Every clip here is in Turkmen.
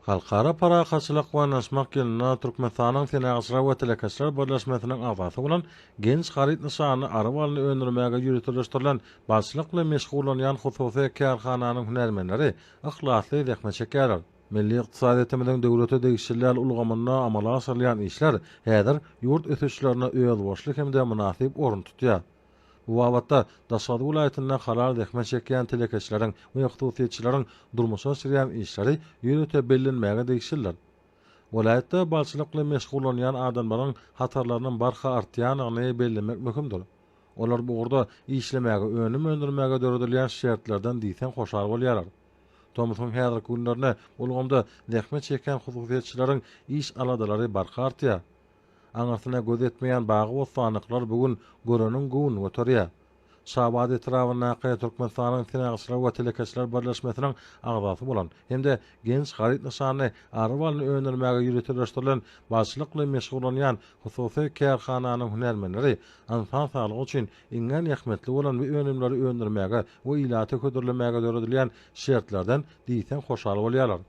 Halkara parahatçylyk we yanaşmak ýylynda Türkmenistanyň Senagatçylar we telekeçiler birleşmesiniň agzasy bolan Genç haryt nyşanly aryk balyny öndürmäge ýöriteleşdirilen balçylyk bilen meşgullanýan hususy kärhananyň hünärmenleri yhlasly zähmet çekýärler. Milli ykdysadyýetimiziň döwlete degişliler ulgamynda amala aşyrylýan işler häzir ýurt ösüşlerinde özboluşly hem-de mynasyp orun tutýar. Bu babatda Daşoguz welaýatynda halal zähmet çekýän telekeçileriň we hususyýetçileriň durmuşa geçirýän işleri ýörite bellenmäge degişlidir. Welaýatda balçylyk bilen meşgullanýan adamlaryň hatarlarynyň barha artýandygyny bellemek möhümdir. Olar bu ugurda işlemäge, önüm öndürmäge döredilýän şertlerden diýseň hoşal bolýarlar. Tomusyň häzirki günlerinde ulgamda zähmet çekýän hususyýetçileriň iş aladalary barha artýar. Aňyrsyna göz ýetmeýän bagy-bossanlyklar bu gün göreniň göwnüni göterýär. Şabat etrabyndaky Türkmenistanyň Senagçylar we telekeçiler birleşmesiniň agzasy bolan hem-de Genç haryt nyşanly ary balyny öndürmäge ýöriteleşdirilen balyçylykly meşgullanýan hususy kärhananyň hünärmenleri ynsan saglygy üçin iňňän ähmiýetli bolan bu önümleri öndürmäge we ilata hödürlemäge döredilýän şertlerden diýseň hoşal bolýarlar.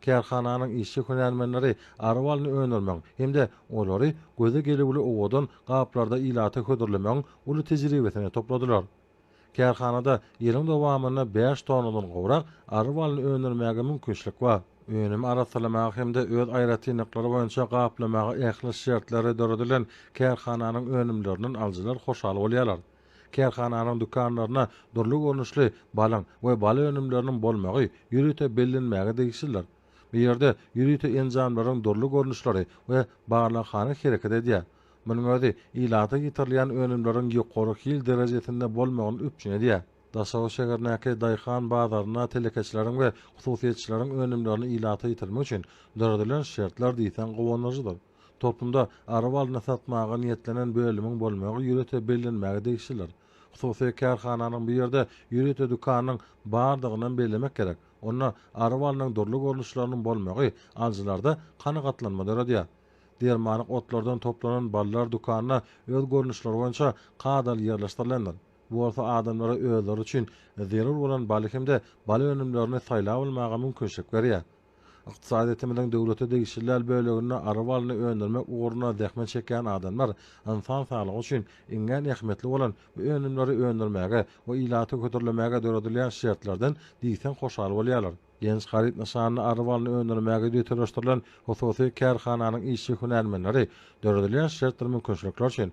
Kärhananyň işçi hünärmenleri ary balyny öndürmegiň hem-de olary göze gelüwli owadan gaplarda ilata hödürlemegiň uly tejribesini topladylar. Kärhanada ýylyň dowamynda bäş tonnadan gowrak ary balyny öndürmäge mümkinçilik bar. Önümi arassalamaga hem-de öz aýratynlyklary boýunça gaplamaga ähli şertleri döredilen kärhananyň önümlerinden alyjylar hoşal bolýarlar. Kärhananyň dükanlarynda dürli görnüşli balyň we bal önümleriniň bolmagy ýörite bellenmäge degişlidir. Bu ýerde ýörite enjamlaryň dürli görnüşleri we barlaghana hereket edýär. Munuň özi ilata ýetirilýän önümleriň ýokary hil derejesinde bolmagyny üpjün edýär. Daşoguz şäherindäki daýhan bazarynda telekeçileriň we hususyýetçileriň önümlerini ilata ýetirmek üçin döredilen şertler diýseň guwanyjydyr. Topunda araba alnyp satmaga niýetlenen bölümiň bolmagy ýörite bellenmäge degişlidir. Hususy kärhananyň bu ýerde ýörite dükanynyň bardygyny hem bellemek gerek. Onda arabanyň dürli görnüşleriniň bolmagy alyjylarda kanagatlanma döredýär. Dermanlyk otlardan toplanan ballar dükanda öz görnüşleri boýunça kadaly ýerleşdirilendir. Bu bolsa adamlara özleri üçin zerur bolan baly hem-de bal önümlerini saýlap almaga mümkinçilik berýär. Ykdysadyýetimiziň döwlete degişli däl böleginde ary balyny öndürmek ugrunda zähmet çekýän adamlar ynsan saglygy üçin iňňän ähmiýetli bolan bu önümleri öndürmäge we ilaty hödürlemäge döredilýän şertlerden diýseň hoşal bolýarlar. Genç haryt nyşanly ary balyny öndürmäge ýöriteleşdirilen hususy kärhananyň işçi-hünärmenleri döredilýän şertdir mümkinçilikler üçin